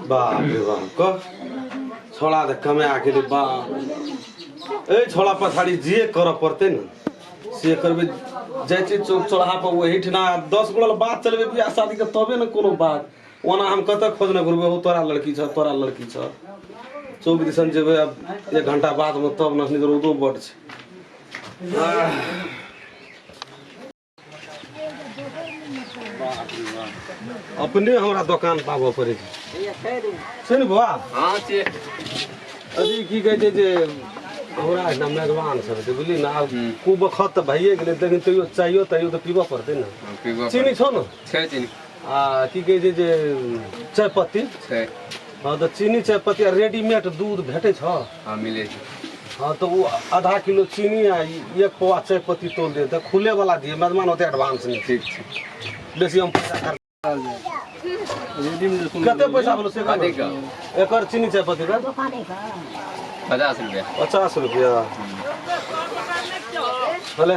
बाप रे बाप कह छोड़ा त कमे आके रे बाप ए छोड़ा पछाड़ी जे कर पड़ते न से करबे जाइ छी चौक चौराहा पर वही ठिना दस गोड़ा ले बात चलबे बियाह शादी के तबे न कोनो बात ओना हम कतऽ खोजने घुरबे हो तोरा लड़की छ तोरा लड़की छ चौक दिसन जेबै अब एक घंटा बाद में तब न रौदो बड छै आह अपने हमरा दोकान पर आबऽ पड़ै छै सुन बौआ हाँ से अभी की कहै छै जे हमरा एहिठाम मेजबान सब छै बुझली ने आब हूँ। कु बखत तऽ भइए गेलै लेकिन तैयो चाहियो तैयो तऽ पीबऽ पड़तै ने पीबऽ चीनी छौ ने छै चीनी आ की कहै छै जे चाय पत्ती छै हँ तऽ चीनी चाय पत्ती आ रेडीमेड दूध भेटै छ हँ मिलै छै हँ तऽ ओ आधा किलो चीनी आ एक पौआ चाय पत्ती तोल दे तऽ खुले वाला दिए मेहमान ओते एडवांस नहि ठीक छै बेसी हम पैसा खर्च कते पैसा भेलो से कते का एकर चीनी चाय पत्ती का पचास रुपया पचास रुपया भले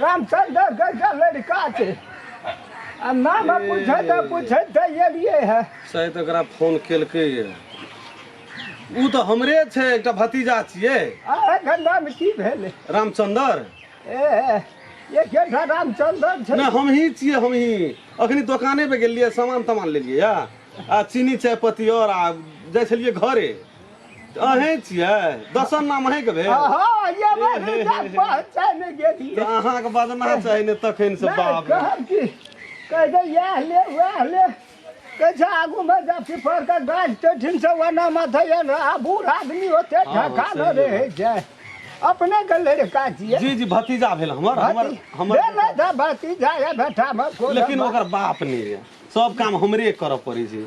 रामचंद्र गैया लड़का छै आ नाम पूछे तऽ पूछे तऽ एलियै है शायद एकरा फोन केलकै ये ऊ तऽ हमरे छै एकटा भतीजा छियै आ एकर नाम की भेलै रामचंद्र ए एकेटा रामचंद्र छै नहि हमही छियै हमही अखनी दोकाने पे गेलियै सामान तामान लेलियै या आ चीनी चाय पत्ती और आ जाइ छलियै घरे अहें छियै दसन नाम अहें के भेल हाँ ये हे, बात हे, जान हे, हे। पहचान गेलिए तऽ अहाँके बदना चाही ने तखन से बाप रे। कहब की कह दे यह ले वह ले कैसे आगू में जा पीपर का गाछ तो ठीक से वना माथा ये ना आ बूढ़ आदमी होते हाँ, ठका न सही रहे जाए अपने के लड़का छिए जी जी भतीजा भेल हमर हमर हमर हमर था भतीजा या बेटा में कोई लेकिन ओकर बाप नहीं है सब काम हमरे करऽ पड़ै छै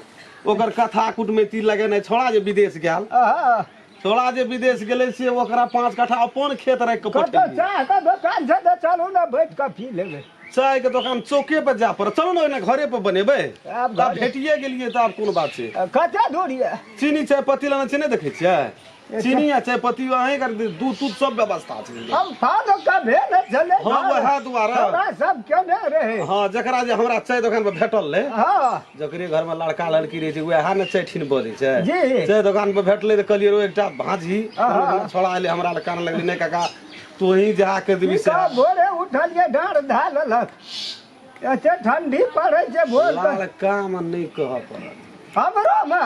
ओकर कथा कुटमैती लगेनाइ छोड़ा जे विदेश गेल आहा, छोड़ा जे विदेश गेलै से ओकरा पाँच कट्ठा अपन खेत राखि कऽ कतऽ पठेलियै चाह के दोकान छै तऽ चलू ने बैठ कऽ पी लेबै चायके दोकान चौके पर जाय पड़त चलू ने ओहिना घरे पर बनेबै आब तऽ आब घरे। भेटिए गेलियै तऽ आब कोन बात छै आ, कते दूर यऽ चीनी चाय पत्ती लेने छियै नहि देखै छियै चीनी आ चाय पत्ती अहीं कर दे दूध दूध सब व्यवस्था छै हम फादो का भेल चले हाँ वह द्वारा हमरा सब क्यों न रहे हाँ जकरा जे हमरा चाय दोकान पर भेटल रहे हाँ जकरे घर में लड़का लड़की रहे छै वएह ने चाय ठिन बजे छै जी। चाय दोकान पर भेटले त कहलिए रो एकटा भाजी हाँ। छोड़ा आइले हमरा लग कान लगले नहीं काका तू ही जा के देबी की से का भोरे उठलिए डाँड़ धालल एते ठंडी पड़े छै भोर से लाल काम नहि कह पड़त हमरो मे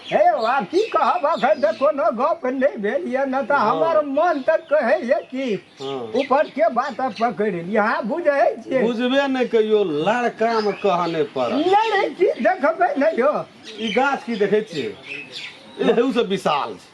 हे यौ आब की कहब अखन तऽ कोनो गप नहि भेल यऽ ने तऽ हमर मन तऽ कहैए कि हँ। ऊपर के बात अब पकड़ि ली अहाँ बुझै छियै बुझबे नहि कहियो लाल काम कह नहि पड़त नहि रे की देखबै नहि यौ ई गाछ की देखै छियै एहू से विशाल छै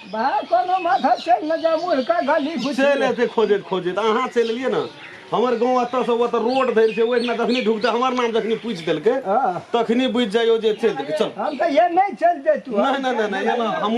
भाय कोनो माथा चलि न जा मुँह का गली घुसि चलि एतै खोजैत खोजैत अहाँ चलि एलियै ने हमर गाँव एतऽसँ ओतऽ रोड धरि छै ओहिठिना जखनी ढुकतै हमर नाम जखनी पूछि देलकै हँ। तखनी बुझि जाइयो जे चलि देलकै चल हम तऽ ये नहि चलि जैतू नहि नहि नहि नहि एना हमहूँ